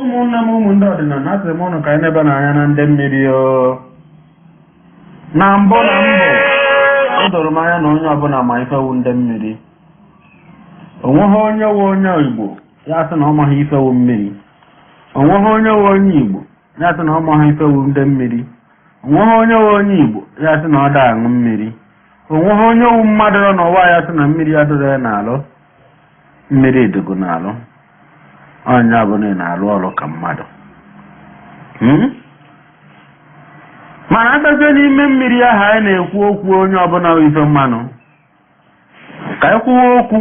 ụmụnne m ụmụ ndị ọdịnala asị m ụnụ ka anyị nebanụ anya na ndị mmiri o na mbụ na mbụ o doro m anya na onye ọbụla ma ife wu ndị mmiri o nweghị onye wu onye igbo ya-asị na ọ maghị ife wu mmiri o nweghị onye wu onye igbo ya-asị na ọ maghị ife wu ndị mmiri o nweghị onye wu onye igbo ya-asị na ọ da-aṅụ mmiri o nweghị onye wu mmadụ nọ n'ụwa ya-asị na mmiri adịrọ ya n'alụ mmiri dịgo n'alụ onye ọbụla ị na-alụ ọrụ ka mmadụ Hmm? mana a bịazie n'ime mmiri ahụ anyị na-ekwu okwu onye ọbụla bụ ife mmanụ ka anyị kwuwe okwu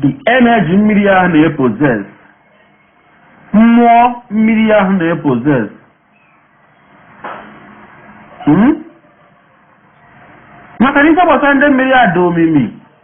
the energy mmiri ahụ na-epossess mmụọ mmiri ahụ na-epossess Hmm? maka na ife gbasara ndị mmiri a dị omimi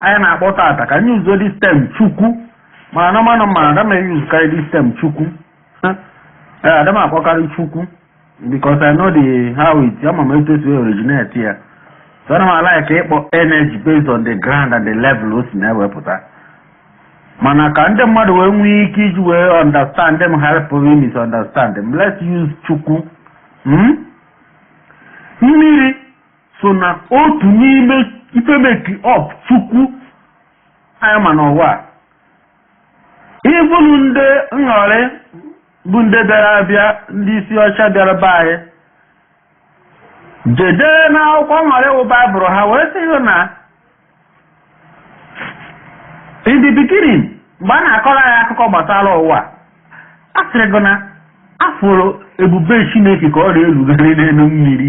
anyị na-akpọ tata ka anyị use this term chukwu mana na mana ma ada m e-usekarị this term chukwu ee ada m akpọkarị chukwu because I know the how it ama m etu e si originate ya so ana m a-like ịkpọ energy based on the ground and the level o si na-ewepụta mana ka ndị mmadụ wee nwee ike iji wee understand m hapụ ịmisunderstand m let's use chukwu hmm? mmiri so n'otu n'ime ife make up chukwu anyị ma n'ụwa a. even ndị nghọrị bụ ndị bịara abịa ndị isi ọcha bịara be anyị je dee n'akwụkwọ nghọrị wụ baịbụl ha wee sị gị na in the beginning mgbe a na-akọrọ anyị akụkọ gbasara ụwa a sịrị gị na a fụrụ ebube chineke ka ọ na-erugharị n'elu mmiri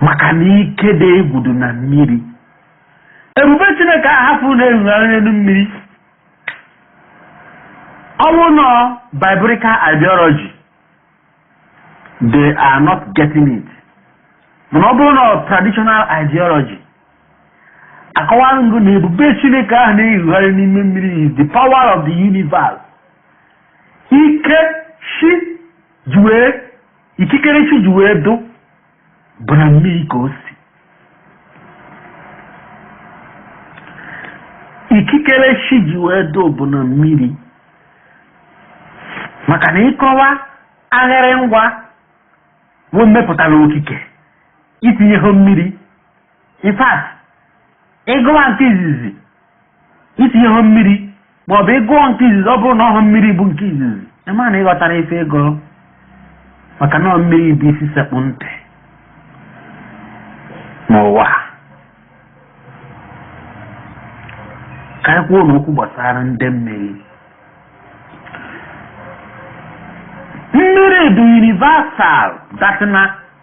maka na ike dị egwu dị na mmiri ebube chineke ahụ a fụrụ na-erugharị n'elu mmiri ọ bụrụ na biblical ideology they are not getting it mana ọ bụrụ na traditional ideology akọwaara m gị na ebube chineke ahụ na-erugharị n'ime mmiri is the power of the universe ike chi ji wee ikikere chi ji wee dụ bụ na mmiri ka o si ikikere chi ji wee dụ bụ na mmiri maka na ịkọwa agharị ngwa bụ mmepụtara okike itinye ha mmiri in fact ịgụwa nke izizi isi ọha mmiri ma ọ bụ ịgụwa nke izizi ọ bụrụ na ọha mmiri bụ nke izizi ịma na ịghọtara ife ego maka na ọ mmiri bụ isi sekpụ ntị n'ụwa ka anyị kwuo n'okwu gbasara ndị mmiri mmiri dị universal that na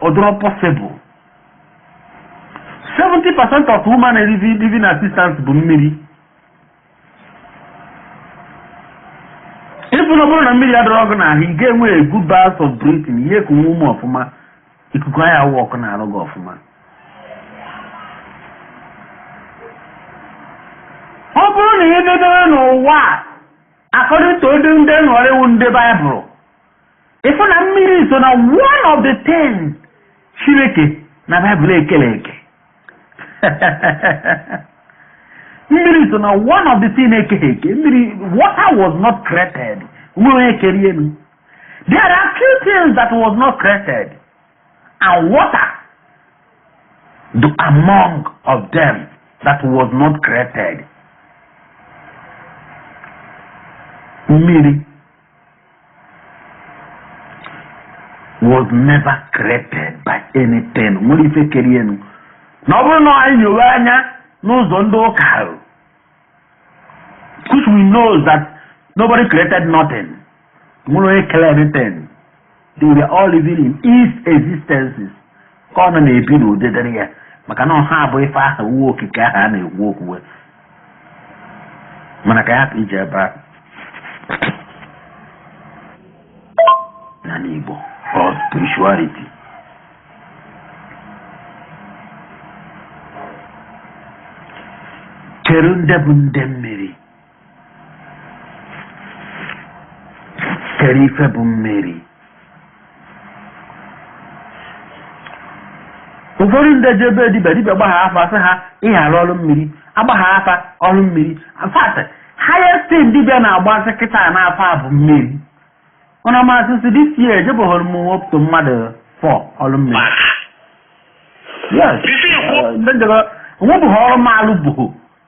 ọ dịrọ possible 70 percent of human living, living existence bụ mmiri ịfụ na ọ bụrụ na mmiri adịrọ gị n'ahụ ị ga-enwe a good breath of breathing ihe ka nwa ume ọfụma ikuku anya awụ ọkụ na-arụ gị ọfụma ọ bụrụ na ihe dedere n'ụwa a, according to ndị ndị nghọrịwụ ndị baịbụl ịfụ na mmiri so na one of the thing Chineke na baịbụl ekerọ eke mmiri so na one of the thing ekeghị eke mmiri water was not created nwerọ ife kerie nụ there are few things that was not created and water dị among of them that was not created mmiri was never created by anything nwerọ ife kerie nụ na ọ bụrụ na anyị nyowe anya n'ụzọ ndị ụka ahụ which we know that nobody created nothing nwerọ onye kere anything they were all living in existence ka ọ nọ na-ebi ndụ dịrị ya maka na ọ ha bụ ife aha uwe okike ahụ a na-ekwu okwuwe mana ka anyị ghara ije ebe ahụ n'ala Igbo or spirituality kedu ndị bụ ndị mmiri kedu ife bụ mmiri ụfọdụ ndị jee be dibia dibia gbaa afa sị ha ihe arụ ọrụ mmiri agbaa afa ọrụ mmiri fact highest thing dibia na-agbasị kịta n'afa bụ mmiri ụna masị sị this year ejebụghọrọ m up to mmadụ four ọrụ mmiri yes eziokwu. onwebụghị ọrụ maalụ bụghị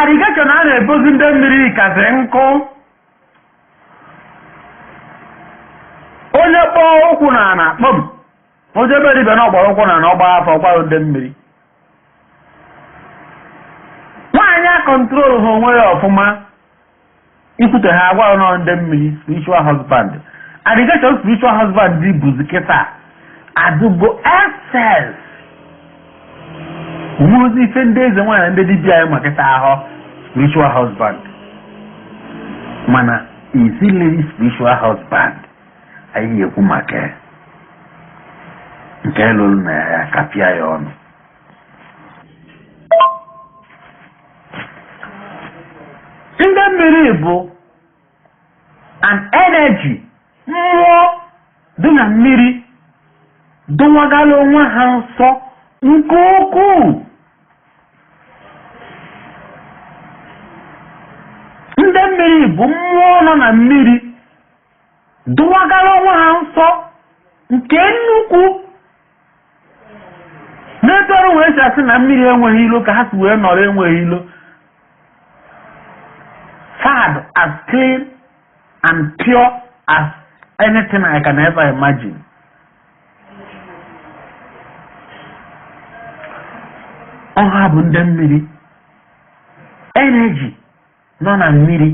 Allegation a na-ebozi ndị mmiri kasị nkụ onye kpọọ ụkwụ na ana kpọm o jebe dibia na ọ kpọrọ ụkwụ na ana ọ gbaa afa ọ gbara ndị mmiri nwaanyị a control họ onwe ya ọfụma Ikwute ha agwa unu na ndị mmiri spiritual husband. Allegation spiritual husband dị bụzi kịta adụgo excess. Ọ wụrụzi ife ndị eze nwaanyị na ndị dibịa anyị ma kịta ahụ spiritual husband. Mana is it really spiritual husband anyị ekwu maka ya. nke lụrụ na ya kapịa ya ọnụ ndị mmiri bụ an energy mmụọ dị na mmiri dowagala onwe ha nsọ nke ukwuu ndị mmiri bụ mmụọ nọ na mmiri dowagara onwe ha nsọ nke nnukwu n'etu ọrụ wee si asị na mmiri enweghị ilo ka ha si wee nọrọ enweghị ilo fa dị as clean and pure as anything I can ever imagine. ọ ha bụ ndị mmiri energy nọ na mmiri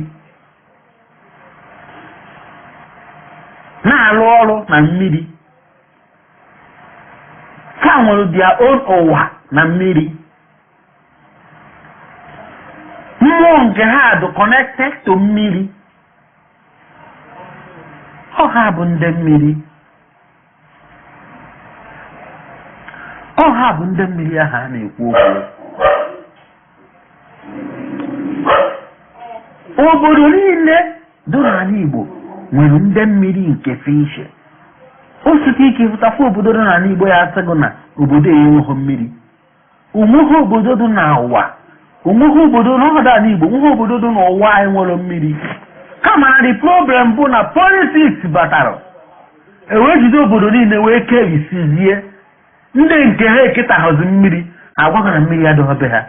na-arụ ọrụ na mmiri ha nwere their own ụwa na mmiri mmụọ nke ha dị connected to mmiri ọ ha bụ ndị mmiri ọ ha bụ ndị mmiri ahụ a na-ekwu okwu obodo niile dị n'ala Igbo nwere ndị mmiri nke fishe o siri ike ịhụtakwa obodo dị n'ala Igbo ya asị gị na obodo ya enweghị mmiri o nweghị obodo dị n'ụwa o nweghị obodo nọdụ n'ala Igbo o nweghị obodo dị n'ụwa na-enwerọ mmiri kama na the problem bụ na politics batara wee jide obodo niile wee kebisizie ndị nke ha eketaghọzi mmiri agwa gị na mmiri adịghị be ha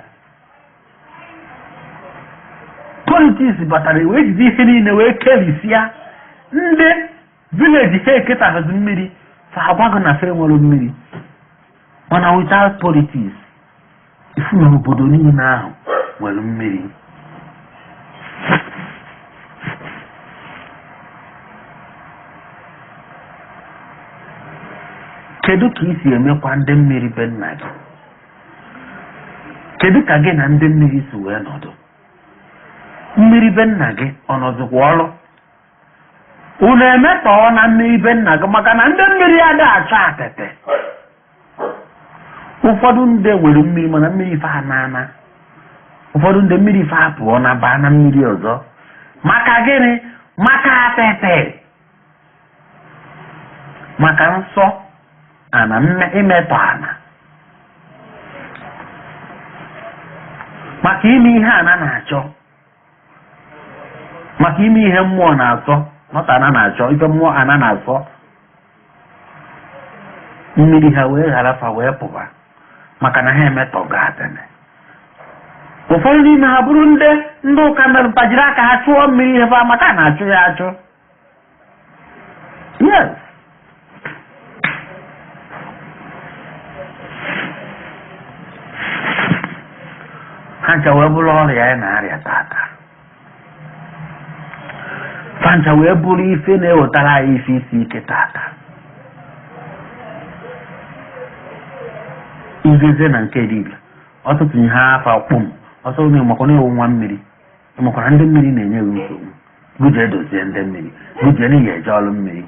politics batara wee jide ihe niile wee kebisia ndị village ha eketaghịzi mmiri fa agwa gị na fa enwerọ mmiri mana without politics ị fụ na obodo niile ahụ nwere mmiri kedu ka i si emekwa ndị mmiri be nna gị kedu ka gị na ndị mmiri si wee nọdụ mmiri be nna gị ọ nọzikwa ọrụ unu emetọọna mmiri be nna gị maka na ndị mmiri ada achọ atịtị ụfọdụ ndị nwere mmiri mana mmiri fa anaana ụfọdụ ndị mmiri fa apụọna baa na mmiri ọzọ maka gịnị maka atịtị maka nsọ ana imetọ ana maka ime ihe ana na-achọ maka ime ihe mmụọ na-asọ nwata ana na-achọ ife mmụọ ana na-asọ mmiri ha wee ghara fa wee pụba maka na ha emetọgo atene ụfọdụ n'ime ha bụrụ ndị ndị ụka mere fa jiri aka ha chụọ mmiri ihe fa maka a na-achụ ya achụ yes ha ncha wee bụrụ ọrịa anyị na-arịa tata ha ncha wee bụrụ ife na-ewetara anyị ife isi ike tata izeze na nke dibịa ọtụtụ ihe afọ kpụm ọsọ na-emakwa na-ewu nwa mmiri ọ makwara ndị mmiri na-enye gị nsogbu gị jee dozie ndị mmiri gị jee n'ihi eje ọrụ mmiri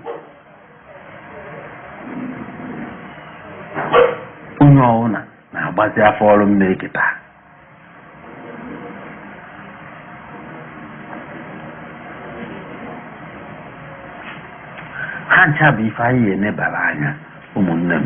onye ọbụla na-agbazi afa ọrụ mmiri kịta ha ncha bụ ife anyị ga-enebara anya ụmụnne m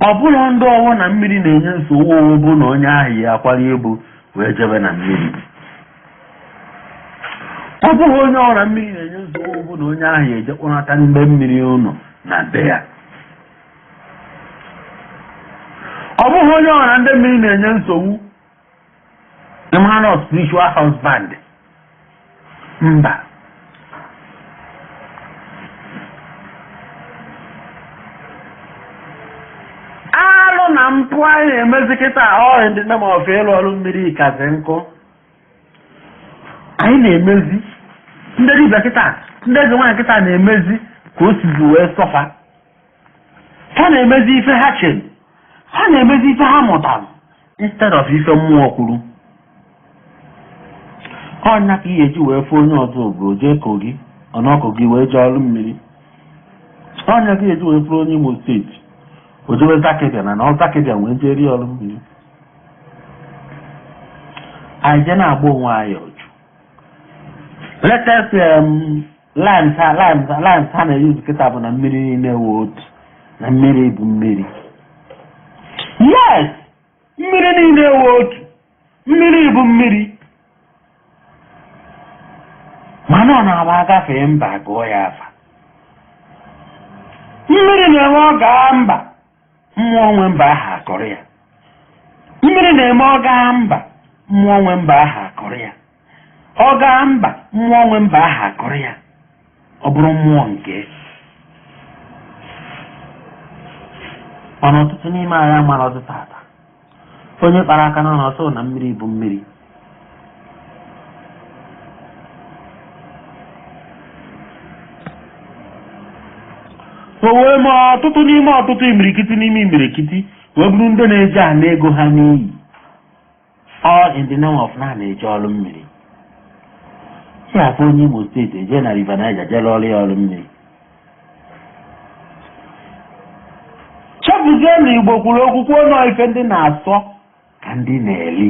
ọ bụrụ ndị ọwụna mmiri na-enye nsogbu owu bụ na onye ahụ ya akwara ibu wee jebe na mmiri ọ bụghị onye ọwụna mmiri na-enye nsogbu owu bụ na onye ahụ ya ejekpọnata mgbe mmiri ụnụ na be ya ọ bụghị onye ọwụna ndị mmiri na-enye nsogbu ị mara na spiritual husband mba alụ na mpụ anyị na-emezi kịta ọhịa ndị nne ma ọfụ ịlụ ọrụ mmiri kasị nkụ anyị na-emezi ndị dibịa kịta ndị eze nwaanyị kịta na-emezi ka o sizi wee sọfa ha na-emezi ife ha chere ha na-emezi ife ha mụtara instead of ife mmụọ kwuru ọ ya ka ị ya-eji wee fụ onye ọzọ ogo jee kogi ọ nọ kogi wee jee ọrụ mmiri ọ ya ka ị ya-eji wee fụrụ onye imo steeti o jewe zaki biam ọ nọ zaki biam wee jee rie ọrụ mmiri anyị je na-agba onwe anyị ọjụ let's um, lines ha lines ha lines ha na-eyuzu kịta bụ na mmiri niile wụ otu na mmiri bụ mmiri yes mmiri niile wụ otu mmiri bụ mmiri mana ọ na-agba agafee mba gụọ ya afa mmiri na-eme ọ gaa mba mmụọ nwe mba ahụ akọrọ ya mmiri na-eme ọ gaa mba mmụọ nwe mba ahụ akọrọ ya ọ gaa mba mmụọ nwe mba ahụ akụrụ ya ọ bụrụ mmụọ nke mana ọtụtụ n'ime anyị amarọzị tata onye kpara aka na ọ sị na mmiri bụ mmiri o wee mee ọtụtụ n'ime ọtụtụ imirikiti n'ime imirikiti wee bụrụ ndị na-eji ana ego ha n'iyi all in the name of na na-eje ọrụ mmiri ị afụ onye Imo State eje na River Niger je alụ ọrụ mmiri chefuzie na Igbo kwuru okwu kwuo na ife ndị na-asọ ka ndị na-eli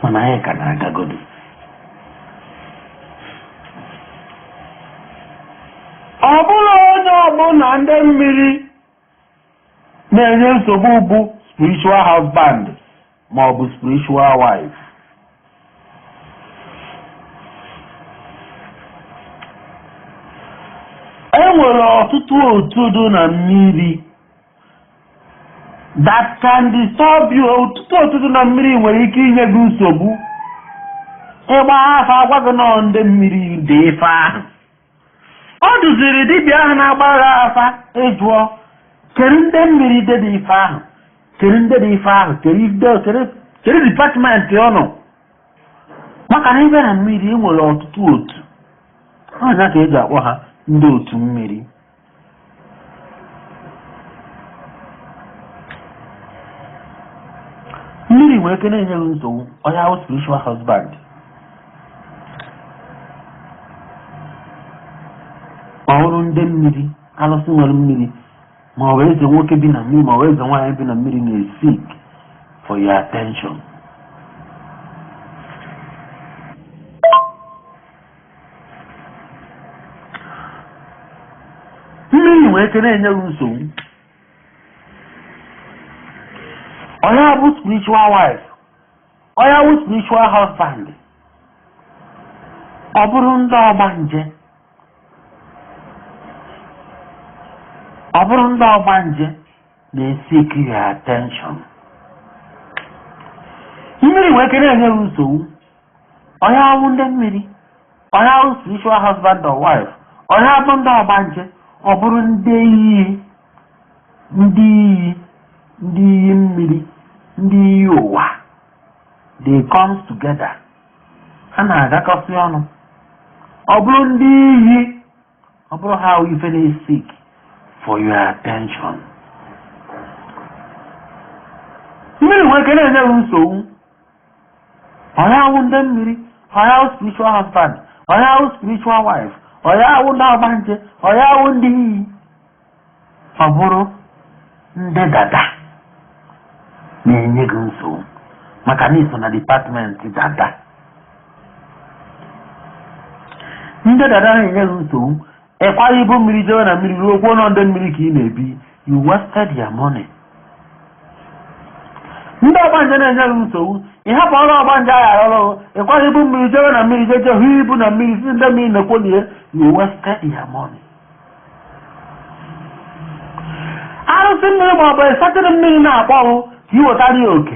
mana anyị ka na-agagodu ọ bụrọ onye ọbụna ndị mmiri na-enye nsogbu bụ spiritual husband ma ọ bụ spiritual wife e nwere ọtụtụ otu dị na mmiri that can disturb you ọtụtụ otu dị na mmiri nwere ike inye gị nsogbu ị gbaa afa a gwa gị na ọ ndị mmiri dị ife ahụ Ọ dụziri dibịa ahụ na-agbara afa ịjụọ kedu ndị mmiri dị dị ife ahụ kedu ndị dị ife ahụ kedu ido kedu kedu department ọ nọ maka na ị bịa na mmiri e nwere ọtụtụ otu ọ ya ka e ji akpọ ha ndị otu mmiri mmiri nwere ike na-enye gị nsogbu onye ahụ spiritual husband ọ bụrụ ndị mmiri alụsị nwere mmiri ma ọ bụ eze nwoke bi na mmiri ma ọ bụ eze nwaanyị bi na mmiri na-esik for your attention mmiri nwere ike na-enye gị nsogbu onye bụ spiritual wife onye bụ spiritual husband ọ bụrụ ndị ọgbanje ọ bụrụ ndị ọgbanje na-esik your attention mmiri nwere ike na-enye gị nsogbu onye awụ ndị mmiri onye awụ spiritual husband or wife onye abụ ndị ọgbanje ọ bụrụ ndị iyi ndị iyi ndị iyi mmiri ndị iyi ụwa they comes together ha na-agakọsị ọnụ ọ bụrụ ndị iyi ọ bụrụ ha ife na-seek for your attention mmiri nwere ike na-enye nsogbu onye awụ ndị mmiri onye awụ spiritual husband onye awụ spiritual wife onye awụ ndị ọgbanje onye awụ ndị iyi ọ bụrụ ndị dada na-enye gị nsogbu maka na i so na department dada ndị dada na-enye gị nsogbu ị kwara ibu mmiri jewe na mmiri ruo kwuo na ọ ndị mmiri ka ị na-ebi you wasted your money ndị ọgbanje na-enye gị nsogbu ị hapụ ọrụ ọgbanje ahụ arụ ọrụ ị kwara ibu mmiri jewe na mmiri je je hụ ibu na mmiri sị ndị mmiri na-ekwo na ya you wasted your money arụsị mmiri ma ọ bụ certain mmiri na-akpọ oku ka ị wetara ya oke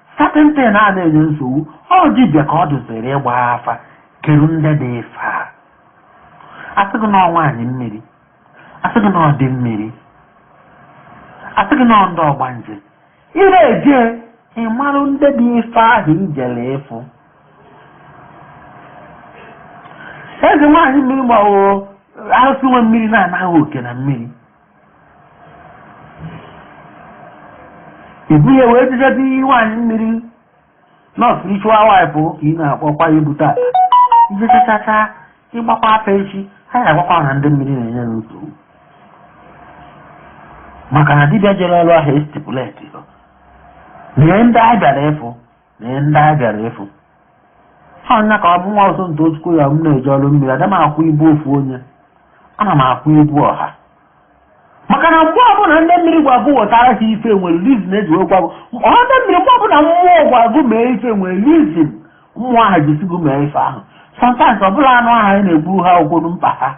Certain thing a na-enye nsogbu ọ dibịa ka ọ dụziri ịgba afa kedu ndị dị ife a a sị gị na ọ nwaanyị mmiri a sị gị na ọ di mmiri a sị gị na ọ ndị ọgbanje ị na-eje ịmara ndị dị ife ahụ i jele ịfụ eze nwaanyị mmiri ma ọ bụ arụsị nwe mmiri na-anaghị oke na mmiri ibu ya wee jidezi nwaanyị mmiri na ọ spiritual wife ka ị na-akpọkwa ya but after i jechachacha ị gbakwa afa echi ha ga-agwakwa na ndị mmiri na-enye ya nsogbu maka na dibịa jere ọrụ ahụ estipulate na ihe ndị a bịara ịfụ na ihe ndị anyị bịara ịfụ ọ nya ka ọ bụ nwa ọzọ nta otukwu ya m na-eje ọrụ mmiri ada m akwa ibu ofu onye ana m akwa ibu ọha maka na mgbe ọbụla ndị mmiri gwa gụ wetara ha ife nwere reason e ji wee gwa gụ ọ ndị mmiri mgbe ọbụla mmụọ gwa gụ mee ife nwere reason mmụọ ahụ ji sị gụ mee ife ahụ sometimes ọ bụrọ anụ ahụ anyị na-egburu ha wụ mkpa ha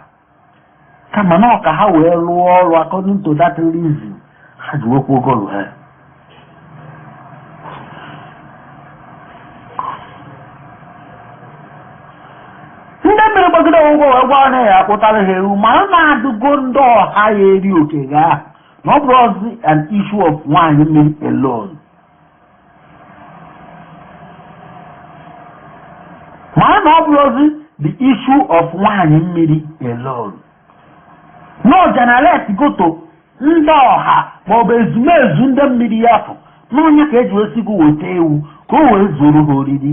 kama na ọ ka ha wee rụọ ọrụ according to that reason ha ji nwekwa ogolu ha ndị mmiri gbagide ụgwọ wee gwa na ya akpụtara ha ewu mara na adịgo ndị ọha ya-eri oke ga na ọ bụrọzi an issue of nwaanyị mmiri alone mara na ọ bụrọzi the issue of nwaanyị mmiri alone na o generate-go to ndị ọha maọbụ ezumezu ndị mmiri ya bụ n'ọ nya ka e ji wee sị gụ weta ewu ka o wee zuru ha oriri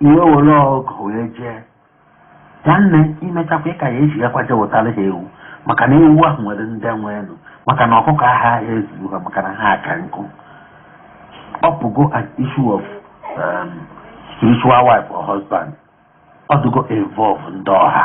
i wee were ọgụ wee jee nwanne i mechakwa ị ka ya eji ya kwa je zụtara ha ewu maka na ewu ahụ nwere ndị nwe elu maka na ọkụkọ agaghị ezuru ha maka na ha aka nkụ ọ pụgo an issue of um, spiritual wife or husband ọ dụgo involve ndị ọha